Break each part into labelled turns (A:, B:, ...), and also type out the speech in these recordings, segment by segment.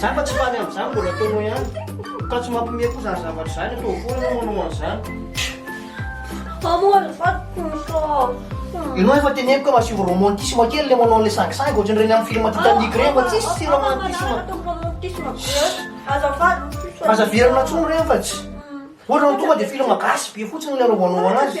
A: Zany fa tsy faly amzany mbola ataonao ihany ka tsy mampime koa zany zavatra zany atao akory anao manao anzany. Fa moa
B: ry vadiko misy Ianao
A: efa teneniko ka masivo romantisme kely le manao an'le sangisangy ohatran'ireny amin'ny film Titanic ireny fa tsisy tsy romantisme. Aza averina intsony ireny fa tsy. Ohatra raha tonga dia film gasy be fotsiny le anaovanao anazy.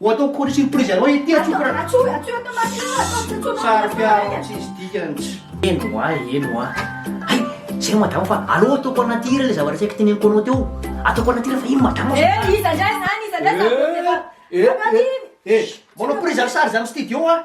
A: Ho ataoko kôry surprise anao ity atsoiko ra. Atsoy, atsoy
B: atao maty io, atao
A: atsoy atsoy. Sary piaro tsisy dikany. Eny hoa, eny hoa. Hay, zay madamo fa aleo ataoko anaty hira le zavatra saika teneniko anao teo. Ataoko anaty hira fa iny madamo aza. Eh, iza ndray zany, iza ndray
B: zany. Eh, eh, eh, eh,
A: manao prise en charge am studio hoa.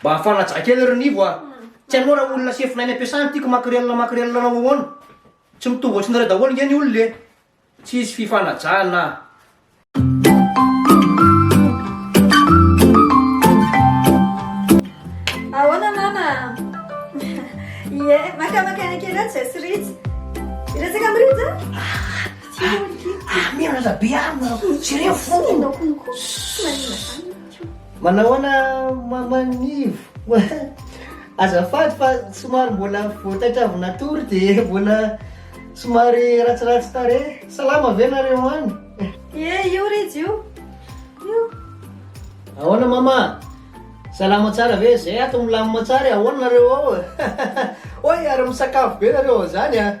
A: Mba hafana aja kely ry Nivo a! Tsy hainao raha olona sefona any am-piasana ity ko makrelina makrelina anao ahoana? Tsy mitovy ohatrinareo daholo nge ny olona e! Tsisy fifanajana a!
B: Ahoana mama a? Ie, makamaka aina kely aho tsy zay sy Rija. Hiresaka amin'i Rija aho.
A: Amena rabe amina jereo fo! Tsy enao konko, tsy maninona izany. Manao ahoana Maman Nivo? Azafady fa somary mbola vao taitra avy natory dia mbola somary ratsiratsy tarehy. Salama ve nareo any? Ie, io
B: Rija io. Io.
A: Ahoana Mama? Salama tsara ve? Zay ato milamina tsara e, ahoana nareo ao? Hoy ary misakafo be nareo ao zany a!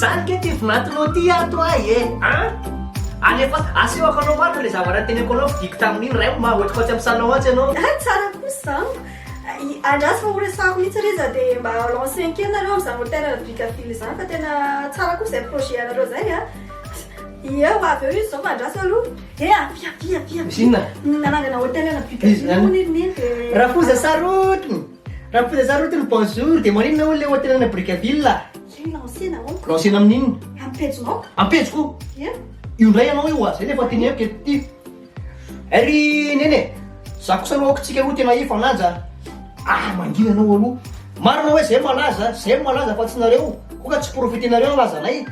A: Zany kay ty vinantinao ty ato ahy e an! Alefa aseho akanao marina le zavatra niteneko anao fidiko tamin'iny ray o maha hotikoty am sanao atsy anao. Hay tsara kosa
B: izany. Andraso fa ho resahako mihitsy re iza dia mba lancen kely nareo amin'izany hôtel Brickaville izany fa tena tsara kosa izay projet anareo izay a. Ie ho avy eo izy izao fa andraso aloha. He avia avia avia. Misy inona?
A: Nanangana hôtel
B: ana Brickaville hono iry neny dia. Rafoza Sarotiny.
A: Raha mifoza zah roty ny bonjour dia maninona hono le hôtel ana Brickaville a? Zay lancena
B: ô. Lancena amin'inona? Am
A: pejinao. Am
B: pejiko? Ia.
A: Io
B: ndray anao io
A: a, zay le efa teneniko eto ty. Ry Nene, zah kosa aloha aoka tsika roa tena efa lanja a. Ah mangina anao aloha. Marina hoe zay malaza, zay no malaza fa tsy nareo, koa ka tsy profitenareo ny lazanay.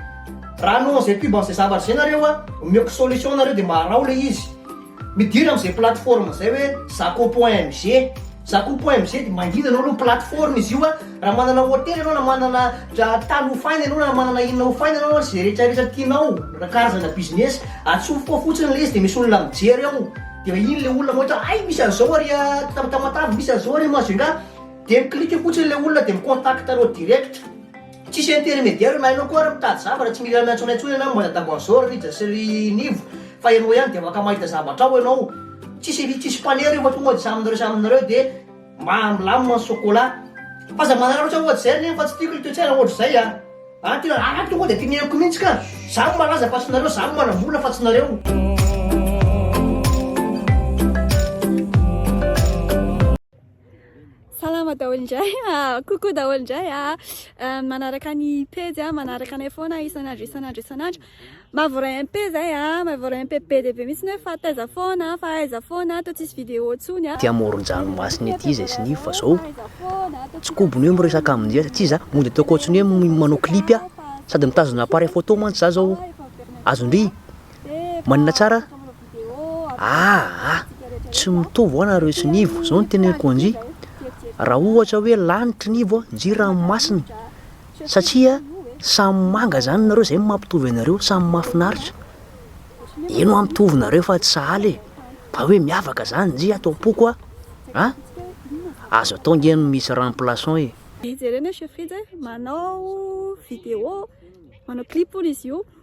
A: Raha hanao an'izay pub an'izay zavatra izay nareo a, omeoko solution nareo dia mba araho le izy. Midira amin'izay plateforme izay hoe zako.mg Zako.mg dia manginana aloha plateforme izy io a, raha manana hotely ianao na manana tany hofaina ianao na manana inona hofaina ianao a, izay rehetra rehetra tianao na karazana business, atsofoka ao fotsiny ilay izy dia misy olona mijery ao, dia iny ilay olona mahita hoe hay misy an'izao ary a Tamatave, misy an'izao ary a Majunga, dia mi-clique fotsiny ilay olona dia mi-contact anao direct. Tsisy intermediaire na ianao koa ary mitady zavatra tsy mila miantsoana intsony ianao momba dada Boisor, Rija sy ry Nivo fa ianao ihany dia afaka mahita zavatra ao ianao. Tsisy tsisy mpanery io fa tonga dia samy nareo samy nareo dia ma milamina ny chocolat. F'aza manara loatra ohatra izay ry Nivo fa tsy tiako ilay toe-tsaina ohatra izay a! An tena a tonga dia teneniko mihitsy ka! Za no malaza fa tsy nareo, za no manam-bola fa tsy nareo.
B: Salama daholo indray, kokoa daholo indray an! manaraka ny pejy an, manaraka anay foana isan'andro isan'andro isan'andro, mba voaray MP izay an, mba voaray MP be dia be mihintsy hoe fa taiza foana an, fa aiza foana an, toa tsisy vidéo intsony an! Aty amoron-dranomasina
C: ety izy e Sniff fa zao tsy kobony hoe miresaka aminy izay satria za mody ataoko ohatriny hoe manao clip a, sady mitazona appareil photo mantsy za zao, azon-dry Manina tsara ah ah tsy mitovy hoa nareo sy nivo zao ny teneniko anji raha ohatra hoe lanitry nivo a nji ranomasina satria samy manga zany nareo zay mampitovy anareo samy mafinaritra eny hoa mitovy nareo fa tsy sahala e fa hoe miavaka zany nji ato ampoko a a azo atao nge ny misy remplaçant e jerena chez
B: Frid manao vidéo manao clip hono izy io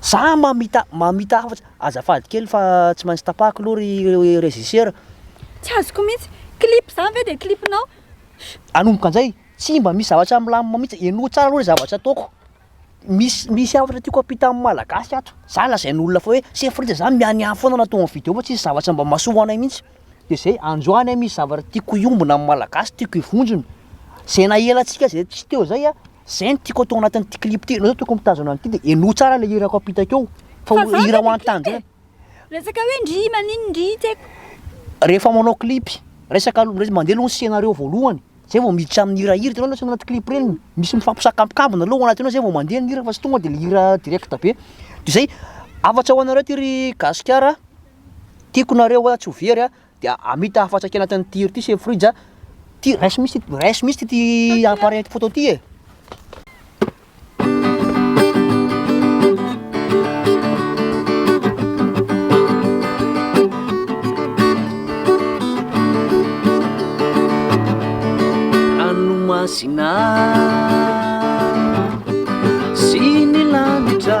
C: Za mamita mamita hafa azafady kely fa tsy maintsy tapahako aloha ry régisseur. Tsy azoko
B: mihitsy. Clip zany ve dia clip nao? Hanomboka
C: njay, tsy mba misy zavatra milamina mihitsy, henoy tsara aloha le zavatra ataoko, misy misy hafatra tiako hampita amin'ny malagasy ato, za lazain'olona fa hoe sefo rija za mianiany foana raha tonga vidéo fa tsisy zavatra mba mahasoa anay mihitsy, de zay, androany an misy zavatra tiako hiombona amin'ny malagasy, tiako hivonjona, zay nahelantsika zay tsy teo zay an. Zay no tiako atao anatin'ity clip ty, enao zao tokony mitazona an'ity de henoy tsara le hirako ampita akeo fa ho hira ho an'tanjona. Resaka hoe ndry
B: maninn ndry tsy haiko. Rehefa manao
C: clip, resaka aloha, resaka mandeha aloha ny scenario voalohany, zay vao miditra amin'ny hira, hira hitanao le anaty clip reny, misy mifampisakambokambona aloha ao anatin'io zay vao mandeha ny hira fa tsy tonga de le hira direct be, de zay, hafatra ho anareo ty ry gasikara a, tiako nareo a, tsy ho very a, Dia amita hafatra kely anatin'ny tir ity sefo fridge a. Ty raiso mihitsy ty, raiso mihitsy ty appareil photo ty e. Ranomasina sy ny lanitra